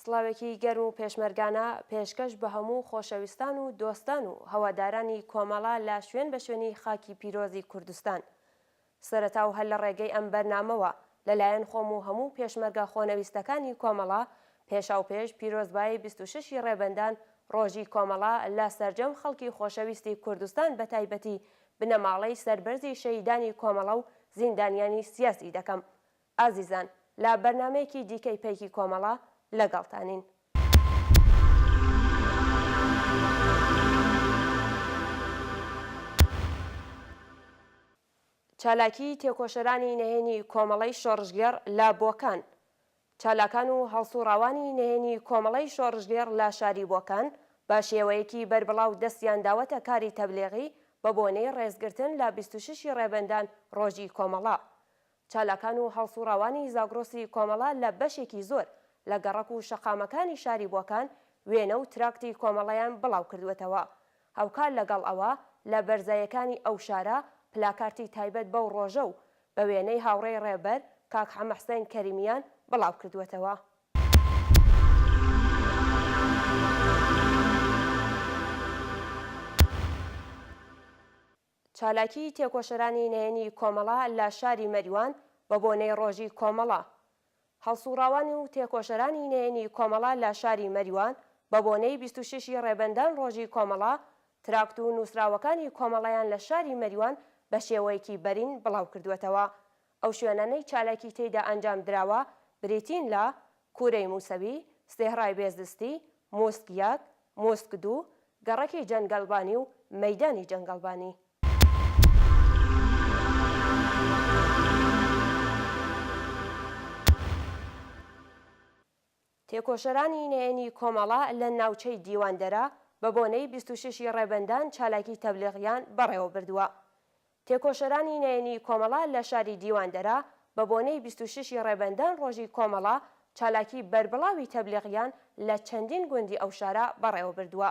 سڵاوێکی گەرم و پێشمەرگانە پێشکەش بە هەموو خۆشەویستان و دۆستان و هەوادارانی کۆمەڵە لە شوێن بە شوێنی خاکی پیرۆزی کوردستان. سەرەتا و هەر لە ڕێگەی ئەم بەرنامەوە لە لایەن خۆم و هەموو پێشمەرگە خۆنەویستەکانی کۆمەڵە پێشاوپێش پیرۆزبایی بیست و شەش ی ڕێبەندان ڕۆژی کۆمەڵە لە سەرجەم خەڵکی خۆشەویستی کوردستان بە تایبەتی بنەماڵەی سەربەرزی شەهیدانی کۆمەڵە و زیندانیانی سیاسی دەکەم. ئازیزان لە بەرنامەیەکی دیکەی پەیکی کۆمەڵە لەگەڵتانین. چالاکیی تێکۆشەرانی نهێنی کۆمەڵەی شۆڕشگێڕ لە بۆکان چالاکان و هەڵسوڕاوانی نهێنی کۆمەڵەی شۆڕشگێڕ لە شاری بۆکان بە شێوەیەکی بەربڵاو دەستیان داوەتە کاری تەبلیغی بە بۆنەی ڕێزگرتن لە بیست و شەشی ڕێبەندان ڕۆژی کۆمەڵە چالاکان و هەڵسوڕاوانی زاگرۆسی کۆمەڵە لە بەشێکی زۆر لە گەڕەک و شەقامەکانی شاری بۆکان وێنە و تراکتی کۆمەڵەیان بڵاوکردووەتەوە، هاوکار لەگەڵ ئەوە لە بەرزایەکانی ئەو شارە پلاکارتی تایبەت بەو ڕۆژە و بە وێنەی هاوڕێی ڕێبەر کاک حەمەحسێن کەریمیان بڵاوکردووەتەوە. چالاکیی تێکۆشەرانی نەیەنی کۆمەڵە لە شاری مەریوان بە بۆنەی ڕۆژی کۆمەڵە هەڵسوڕاوان و تێکۆشەرانی نەیەنی کۆمەڵە لە شاری مەریوان بە بۆنەی بیست و شەش ی ڕێبەندان ڕۆژی کۆمەڵە تراکت و نووسراوەکانی کۆمەڵەیان لە شاری مەریوان بە شێوەیەکی بەرین بڵاوکردووەتەوە ئەو شوێنانەی چالاکی تێیدا ئەنجام دراوە بریتین لە، کوورەی مووسەوی، سێهڕای بێزستی، مووسک یەک، مووسک دوو، گەڕەکی جەنگەڵبانی و مەیدانی جەنگەڵبانی. تێکۆشەرانی نەیەنی کۆمەڵە لە ناوچەی دیواندەرە بە بۆنەی بیست و شەش ی ڕێبەندان چالاکی تەبلیغیان بەڕێوەبردووە. تێکۆشەرانی نەیەنی کۆمەڵە لە شاری دیواندەرە بە بۆنەی بیست و شەش ی ڕێبەندان ڕۆژی کۆمەڵە چالاکی بەربڵاوی تەبلیغیان لە چەندین گوندی ئەو شارە بەڕێوەبردووە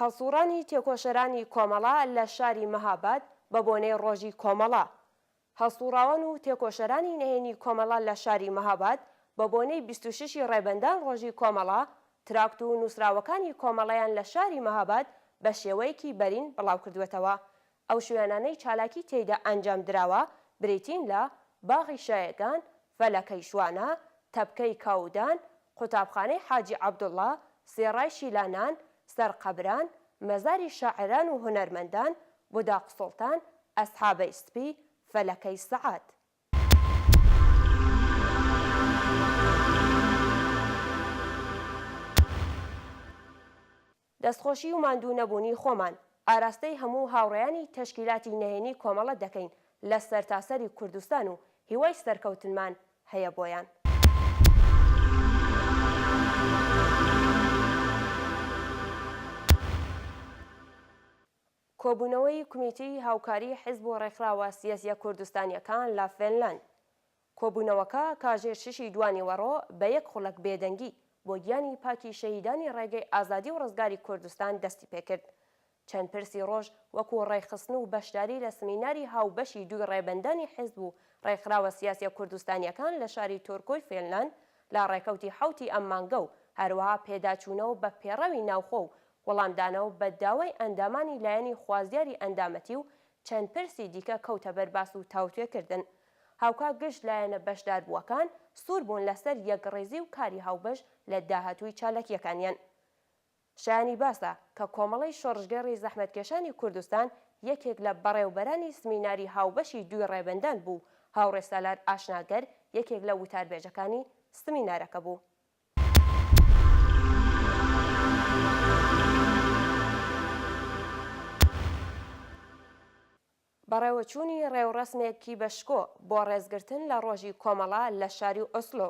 هەڵسووڕانی تێکۆشەرانی کۆمەڵە لە شاری مەهاباد بە بۆنەی ڕۆژی کۆمەڵە هەڵسووڕاوان و تێکۆشەرانی نەهێنی کۆمەڵە لە شاری مەهاباد بە بۆنەی بیست و شەش ی ڕێبەندان ڕۆژی کۆمەڵە تراکت و نووسراوەکانی کۆمەڵەیان لە شاری مەهاباد بە شێوەیەکی بەرین بڵاوکردووەتەوە ئەو شوێنانەی چالاکی تێیدا ئەنجام دراوە بریتین لە، باغی شایگان، فەلەکەی شوانە، تەپکەی کاودان، قوتابخانەی حاجی عەبدوڵڵا، سێڕای شیلانان، سەر قەبران، مەزاری شاعران و هونەرمەندان، بوداق سوڵتان، ئەسحابەی سپی، فەلەکەی سەعات. دەستخۆشی و ماندوو نەبوونی خۆمان ئاراستەی هەموو هاوڕێیانی تەشکیلاتی نەیەنی کۆمەڵە دەکەین لە سەرتاسەری کوردستان و هیوای سەرکەوتنمان هەیە بۆیان. کۆبوونەوەی کومیتەی هاوکاری حیزب و ڕێکخراوە سیاسیە کوردستانیەکان لە فێنلاند کۆبوونەوەکە کاژێر شەشی دوانیوەڕۆ بە یەک خوڵەک بێدەنگی بۆ گیانی پاکی شەهیدانی ڕێگەی ئازادی و ڕزگاری کوردستان دەستی پێکرد. چەند پرسی ڕۆژ وەکوو ڕێکخستن و بەشداری لە سمیناری هاوبەشی دووی ڕێبەندانی حیزب و ڕێکخراوە سیاسیە کوردستانیەکان لە شاری تۆرکۆی فێنلاند لە ڕێکەوتی حەوتی ئەم مانگە و هەروەها پێداچوونەوە بە پێڕەوی ناوخۆ و وەڵامدانەوە بە داوای ئەندامانی لایەنی خوازیاری ئەندامەتی و چەند پرسی دیکە کەوتە بەر باس و تاوتوێکردن. هاوکات گشت لایەنە بەشداربووەکان سوور بوون لەسەر یەکڕیزی و کاری هاوبەش لە داهاتووی چالاکییەکانیان. شایانی باسە کە کۆمەڵەی شۆڕشگێڕی زەحمەتکێشانی کوردستان یەکێک لە بەڕێوبەرانی سمیناری هاوبەشی دووی ڕێبەندان بوو، هاوڕێ سالار ئاشناگەر یەکێک لە وتاربێژەکانی سمینارەکە بوو. بەڕێوەچوونی ڕێوڕەسمێک کی بە شکۆ بۆ ڕێزگرتن لە ڕۆژی کۆمەڵە لە شاری ئۆسلۆ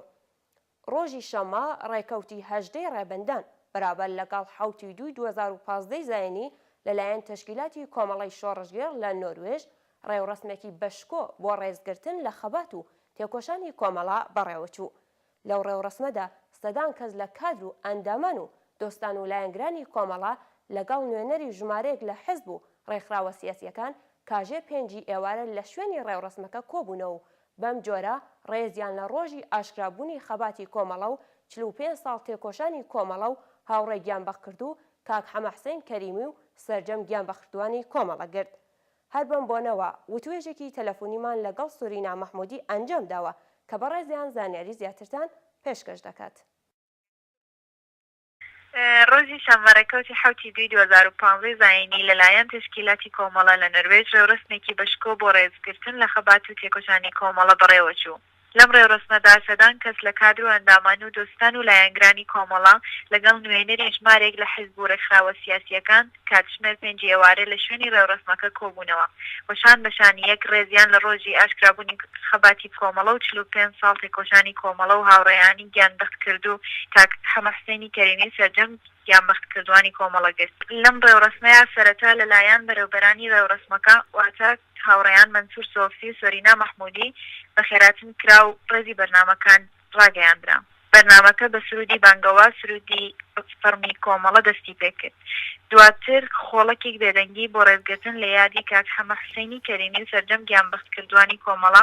ڕۆژی شەممە ڕێکەوتی هەژدە ی ڕێبەندان بەرابەر لەگەڵ حەوت ی دووی دوو هەزار و پازدە ی زایینی لەلایەن تەشکیلاتی کۆمەڵەی شۆڕشگێڕ لە نۆروێژ ڕێوڕەسمێکی بە شکۆ بۆ ڕێزگرتن لە خەبات و تێکۆشانی کۆمەڵە بەڕێوەچوو لەو ڕێوڕەسمەدا سەدان کەس لە کادر و ئەندامان و دۆستان و لایەنگرانی کۆمەڵە لەگەڵ نوێنەری ژمارەیەک لە حزب و ڕێکخراوە سیاسییەکان کاژێ پێنج ی ئێوارە لە شوێنی ڕێوڕەسمەکە کۆبوونەوە و بەم جۆرە ڕێزیان لە ڕۆژی ئاشکرابوونی خەباتی کۆمەڵە و چل و پێنج ساڵ تێکۆشانی کۆمەڵە و هاوڕێ گیانبەختکردوو کاک حەمەحسەین کەریمی و سەرجەم گیانبەخردووانی کۆمەڵە گرت. هەر بەم بۆنەوە وتوێژێکی تەلەفونیمان لە گەڵ سورینا مەحمودی ئەنجام داوە کە بەڕێزیان زانیاری زیاترتان پێشکەش دەکات. ڕۆژی شەممە ڕێکەوتی حەوت ی دووی دوو هەزار و پازدە زایینی لە لایەن تەشکیلاتی کۆمەڵە لە نەروێج ڕێوڕەسمێکی بە شکۆ بۆ ڕێزگرتن لە خەبات و تێکۆشانی کۆمەڵە بەڕێوە چوو. لەم ڕێوڕەسمەدا سەدان کەس لە کادر و ئەندامان و دۆستان و لایەنگرانی کۆمەڵە، لەگەڵ نوێنەری ژمارێک لە حزب و ڕێکخراوە سیاسییەکان، کاتژمێر پێنجی ئێوارێ لە شوێنی ڕێوڕەسمەکە کۆبوونەوە و شان بە شانی یەک ڕێزیان لە ڕۆژی ئاشکرابوونی خەباتی کۆمەڵە و چل و پێنج ساڵ تێکۆشانی کۆمەڵە و هاوڕێیانی گیانبەختکردوو کاک حەمە حسێنی کەریمی و سەرجەم گیانبەختکردووانی کۆمەڵە گرت. لەم ڕێوڕەسمەیا سەرەتا لەلایەن بەرێوبەرانی ڕێوڕەسمەکە واتە، هاوڕێیان مەنسور سۆفی و سۆرینا مەحمودی بەخێراتن کرا و ڕێزی بەرنامەکان ڕاگەیاندرا. بەرنامەکە بە سروودی بانگەواز سروودی فەڕمی کۆمەڵە دەستی پێ کرد. دواتر خۆڵەکێک بێدەنگی بۆ ڕێزگرتن لە یادی کاک حەمە حوسەینی کەریمی و سەرجەم گیانبەختکردووانی کۆمەڵە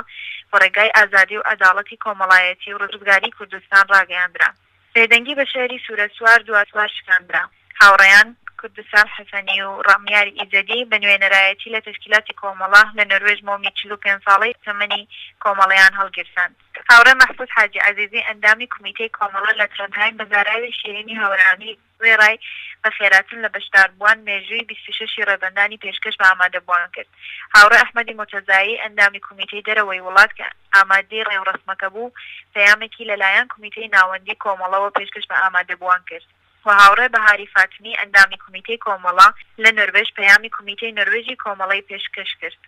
بە ڕێگای ئازادی و عەداڵەتی کۆمەڵایەتی و ڕزگاریی کوردستان ڕاگەیاندرا. بێدەنگی بە شێعری سوورە سوار دوا سوار شکاندرا. هاوڕێیان، کوردسال حەسەنی و ڕامیار ئیزەدی، بە نوێنەرایەتی لە تەشکیلاتی کۆمەڵە، لە نەروێژ مۆمی چل و پێنج ساڵەی تەمەنی کۆمەڵەیان هەڵگیرساند. هاوڕێ مەحفوز حاجی عەزیزی ئەندامی کومیتەی کۆمەڵە لە ترۆندهایم بە زاراوی شیرینی هاورامی وێڕای بەخێراتن لە بەشداربووان، مێژووی بیست و شەش ی ڕێبەندانی پێشکەش بە ئامادەبووان کرد. هاوڕێ ئەحمەدی مورتەزایی، ئەندامی کومیتەی دەرەوەی وڵات کە ئامادەی ڕێوڕەسمەکە بوو، پەیامێکی لە لایەن کومیتەی ناوەندی کۆمەڵەوە پێشکەش بە ئامادەبووان کرد و هاوڕێ بەهاری فاتمی، ئەندامی کومیتەی کۆمەڵە لە نۆروێژ، پەیامی کومیتەی نۆروێژی کۆمەڵەی پێشکەش کرد.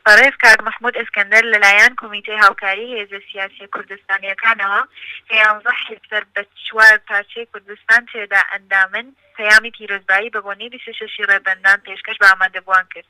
بەڕێز کاک مەحمود ئەسکەندەر لەلایەن کۆمیتەی هاوکاری هێزە سیاسیە کوردستانیەکانەوە کە یانزە حیزب سەر بە چوار پارچەی کوردستان تێدا ئەندامن پەیامی پیرۆزبایی بە بۆنەی بیست و شەش ی ڕێبەندان پێشکەش بە ئامادەبوان کرد.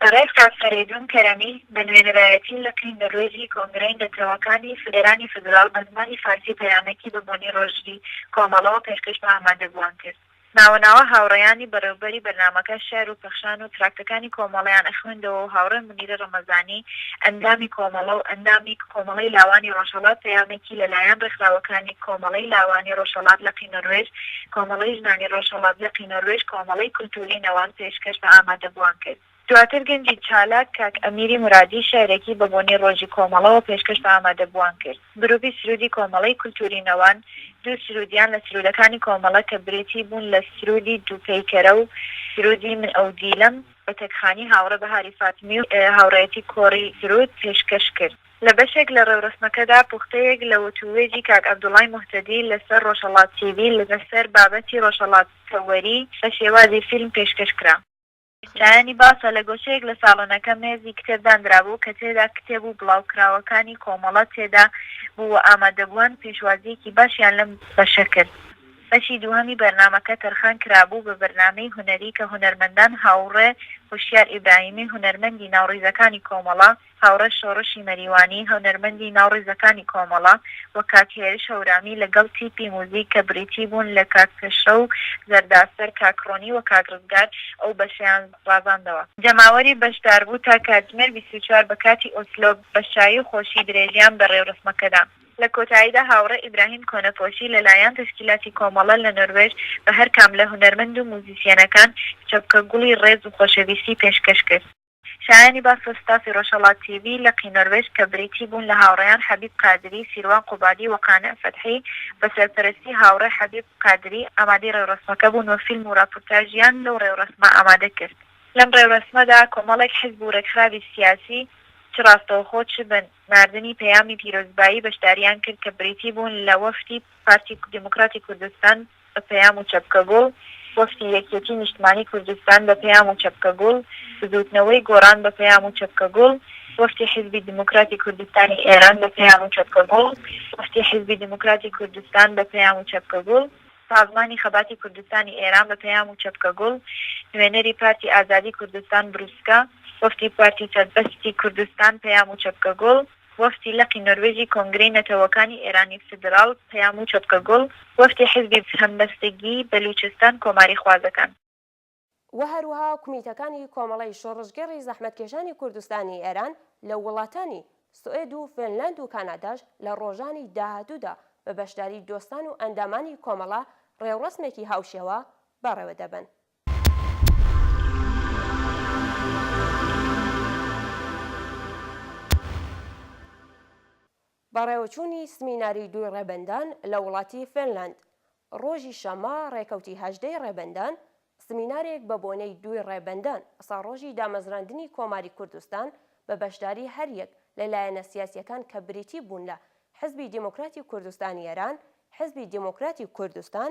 بەڕێز کاک فەرەیدون کەرەمی بە نوێنەرایەتی لقی نەروێجی کۆنگرەی نەتەوەکانی فدرانی فدراڵ بە زمانی فارسی پەیامێکی بە بۆنەی ڕۆژی کۆمەڵەوە پێشکەش بە ئامادەبوان کرد. ناوە ناوە هاوڕێیانی بەڕێوبەری بەرنامەکە شێعر و پەخشان و تراکتەکانی کۆمەڵەیان ئەخوێندەوە و هاوڕێ مونیرە ڕەمەزانی ئەندامی کۆمەڵە و ئەندامی کۆمەڵەی لاوانی ڕۆژهەڵات پەیامێکی لە لایەن ڕێکخراوەکانی کۆمەڵەی لاوانی ڕۆژهەڵات لقی نۆروێژ، کۆمەڵەی ژنانی ڕۆژهەڵات لقی نۆروێژ، کۆمەڵەی کولتووری نەوان پێشکەش بە ئامادەبووان کرد. دواتر گەنجی چالاک کاک ئەمیری مورادی شیعرێکی بە بۆنەی ڕۆژی کۆمەڵەوە پێشکەش بە ئامادەبووان کرد. گرووپی سروودی کۆمەڵەی کولتووری نەوان دوو سروودیان لە سروودەکانی کۆمەڵە کە برێتی بوون لە سروودی دوو پەیکەرە و سروودی من ئەو دیلەم، بە تەکخانی هاوڕێ بەهاری فاتمی و هاوڕێیەتی کۆڕی سروود پێشکەش کرد. لە بەشێک لە ڕێورەسمەکەدا پوختەیەک لە وتووێژی کاک عەبدوڵای موهتەدی لە سەر ڕۆژهەڵات تیڤی لە سەر بابەتی ڕۆژهەڵات تەوەری بە شێوازی فیلم پێشکەش کرا. شایانی باسە لە گۆشەیەک لە ساڵۆنەکە مێزی کتێب داندرابوو کە تێدا کتێب و بڵاوکراوەکانی کۆمەڵە تێدا بوو و ئامادەبووان پێشوازییەکی باشیان لەم بەشە کرد. بەشی دووهەمی بەرنامەکە تەرخان کرابوو بە بەرنامەی هونەری کە هونەرمەندان هاوڕێ هۆشیار ئیبراهیمی هونەرمەندی ناو ڕیزەکانی کۆمەڵە، هاوڕێ شۆڕشی مەریوانی، هونەرمەندی ناو ڕیزەکانی کۆمەڵە، و کاک هێرش هەورامی لە گەڵ تیپی موزیک کە بریتی بوون لە کاک پێشڕە و زەرداسەر، کاک ڕۆنی و کاک ڕزگار ئەو بەشەیان ڕازاندەوە. جەماوەری بەشداربوو تا کاتژمێر بیست و چوار بە کاتی ئۆسلۆ بە شایی و خۆشی درێژیان بە ڕێورەسمەکەدا. لە کۆتاییدا هاوڕێ ئیبراهیم کۆنەپۆشی لە لایەن تەشکیلاتی کۆمەڵە لە نۆروێژ بە هەر کام لە هونەرمەند و موزیسیەنەکان چەپکە گوڵی ڕێز و خۆشەویستی پێشکەش کرد. شایانی باسە ستافی ڕۆژهەڵات تی ڤی لقی نۆروێژ کە بریتی بوون لە هاوڕێیان حەبیب قادری، سیروان قوبادی و قانع فەتحی، بە سەرپەرەستی هاوڕێ حەبیب قادری ئامادەی ڕێوڕەسمەکە بوون و فیلم و ڕاپورتاژیان لەو ڕێوڕەسمە ئامادە کرد. لەم ڕێوڕەسمەدا کۆمەڵێک حزب و ڕێکخراوی سیاسی چ ڕاستەوخۆ چ بە ناردنی پەیامی پیرۆزبایی بەشداریان کرد کە بریتی بوون لە وەفدی پارتی دیموکراتی کوردستان، بە پەیام و چەپکە گوڵ، وەفدی یەکیەتی نیشتمانی کوردستان بە پەیام و چەپکە گوڵ، بزووتنەوەی گۆڕان بە پەیام و چەپکە گوڵ، وەفدی حیزبی دیموکراتی کوردستانی ئێران بە پەیام و چەپکە گوڵ، وەفدی حیزبی دیموکراتی کوردستان بە پەیام و چەپکە گوڵ، سازمانی خەباتی کوردستانی ئێران بە پەیام و چەپکە گوڵ، نوێنەری پارتی ئازادی کوردستان بروسکە، وەفدی پارتی سەربەستی کوردستان پەیام و چەپکە گوڵ، وەفدی لقی نۆروێژی کۆنگرەی نەتەوەکانی ئێرانی فیدراڵ، پەیام و چەپکە گوڵ، وەفدی حیزبی هەمبەستگی بەلووچستان کۆماریخوازەکان. و هەروەها کومیتەکانی کۆمەڵەی شۆڕشگێڕی زەحمەتکێشانی کوردستانی ئێران لە وڵاتانی سوئێد و فێنلاند و کاناداش لە ڕۆژانی داهاتوودا بە بەشداری دۆستان و ئەندامانی کۆمەڵە ڕێوڕەسمێکی هاوشێوە بەڕێوە دەبەن. بەڕێوەچوونی سمیناری دووی ڕێبەندان لە وڵاتی فێنلاند ڕۆژی شەممە ڕێکەوتی هەژدە ی ڕێبەندان سمینارێک بە بۆنەی دووی ڕێبەندان ساڵڕۆژی دامەزراندنی کۆماری کوردستان بە بەشداری هەریەک لە لایەنە سیاسیەکان کە بریتی بوون لە حزبی دێمۆکراتی کوردستانی ئێران، حزبی دێمۆکراتی کوردستان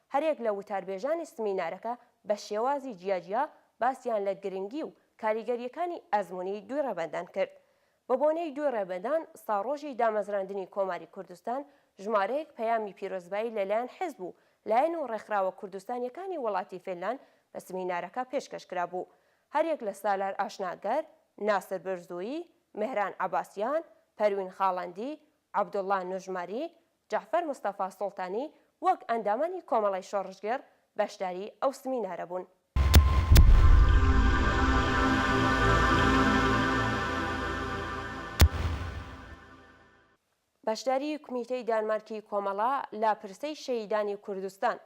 هەریەک لە وتاربێژانی سمینارەکە بە شێوازی جیاجیا باسیان لە گرنگی و کاریگەرییەکانی ئەزموونی دووی ڕێبەندان کرد. بە بۆنەی دووی ڕێبەندان، ساڕۆژی دامەزراندنی کۆماری کوردستان، ژمارەیەک پەیامی پیرۆزبایی لەلایەن حیزب و لایەن و ڕێکخراوە کوردستانییەکانی وڵاتی فینلاند بە سمینارەکە پێشکەش کرابوو. هەریەک لە سالار ئاشناگەر، ناسر برزوویی، مێهران عەباسیان، پەروین خاڵەندی، عەبدوڵڵا نوژماری، جەعفەر مستەفا سوڵتانی وەک ئەندامانی کۆمەڵەی شۆڕشگێڕ بەشداری ئەو سمینارە بوون. بەشداری کومیتەی دانمارکی کۆمەڵە لە پرسەی شەهیدانی کوردستان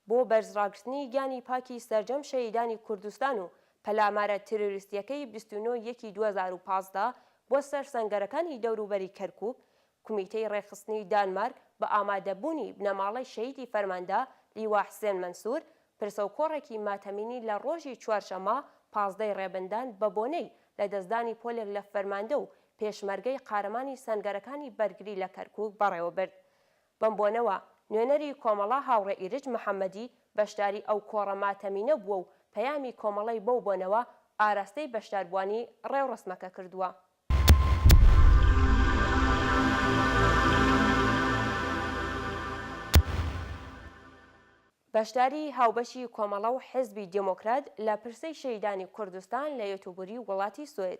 بۆ بەرز ڕاگرتنی گیانی پاکی سەرجەم شەهیدانی کوردستان و پەلامارە تیرۆریستیەکەی بیست و نۆ یەکی دوو هەزار و پازدە بۆ سەر سەنگەرەکانی دەوروبەری کەرکوک، کومیتەی ڕێکخستنی دانمارک بە ئامادە بوونی بنەماڵەی شەهیدی فەرماندە لیوا حسێن مەنسور پرسەو کۆڕێکی ماتەمینی لە ڕۆژی چوارشەمە پازدە ی ڕێبندان بە بۆنەی لە دەستدانی پۆلێک لە فەرماندە و پێشمەرگەی قارەمانی سەنگەرەکانی بەرگری لە کەرکوک بەڕێوەبرد بەم بۆنەوە نوێنەری کۆمەڵە هاوڕێ ئیرج محەمەدی بەشداری ئەو کۆڕە ماتەمینە بووە و پەیامی کۆمەڵەی بەو بۆنەوە ئاراستەی بەشداربووانی ڕێوڕەسمەکە کردووە. بەشداری هاوبەشی کۆمەڵە و حیزبی دێمۆکرات لە پرسەی شەهیدانی کوردستان لە یێتوبوری وڵاتی سوئد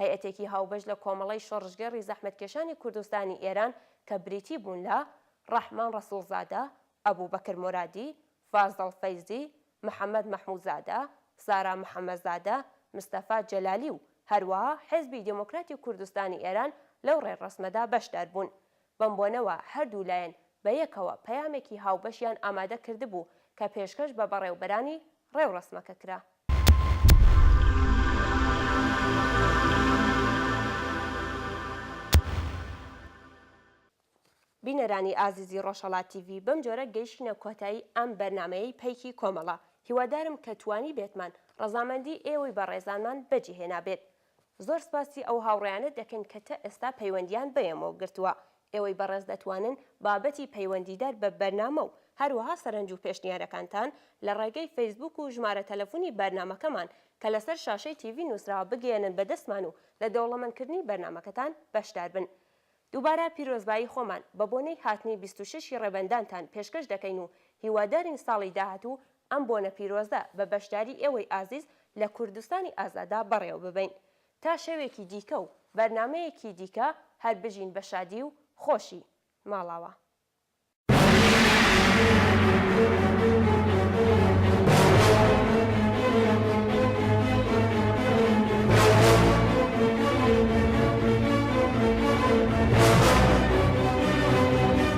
هەیئەتێکی هاوبەش لە کۆمەڵەی شۆڕشگێڕی زەحمەتکێشانی کوردستانی ئێران کە بریتی بوون لە، ڕەحمان ڕەسووڵزادە، ئەبووبەکر مۆرادی، فازڵ فەیزی، محەمەد مەحموودزادە، سارا محەمەدزادە، مستەفا جەلالی و هەروەها حێزبی دێموکراتی کوردستانی ئێران لەو ڕێڕەسمەدا بەشدار بوون. بەم بۆنەوە هەردوو لایەن بە یەکەوە پەیامێکی هاوبەشیان ئامادە کردبوو کە پێشکەش بە بەڕێوبەرانی ڕێوڕەسمەکە کرا. بینەرانی ئازیزی ڕۆژهەڵات تیڤی بەم جۆرە گەیشینە کۆتایی ئەم بەرنامەیەی پەیکی کۆمەڵە، هیوادارم کە توانیبێتمان ڕەزامەندی ئێوەی بەڕێزانمان بەجێهێنابێت. زۆر سپاسی ئەو هاوڕێیانە دەکەین کە تە ئێستا پەیوەندییان بەێمەوە گرتووە. ئێوەی بەڕێز دەتوانن بابەتی پەیوەندیدار بە بەرنامە و هەروەها سەرەنج و پێشنیارەکانتان لە ڕێگەی فەیسبووک و ژمارە تەلەفونی بەرنامەکەمان کە لەسەر شاشەی تیڤی نووسراوە بگەیەنن بە دەستمان و لە دەوڵەمەندکردنی بەرنامەکەتان بەشدار بن. دووبارە پیرۆزبایی خۆمان بە بۆنەی هاتنی بیست و شەش ی ڕێبەندانتان پێشکەش دەکەین و هیوادارین ساڵی داهاتوو ئەم بۆنە پیرۆزە بە بەشداری ئێوەی ئازیز لە کوردستانی ئازاددا بەڕێوە ببەین. تا شەوێکی دیکە و بەرنامەیەکی دیکە هەر بژین بە شادی و خۆشی. ماڵاوا.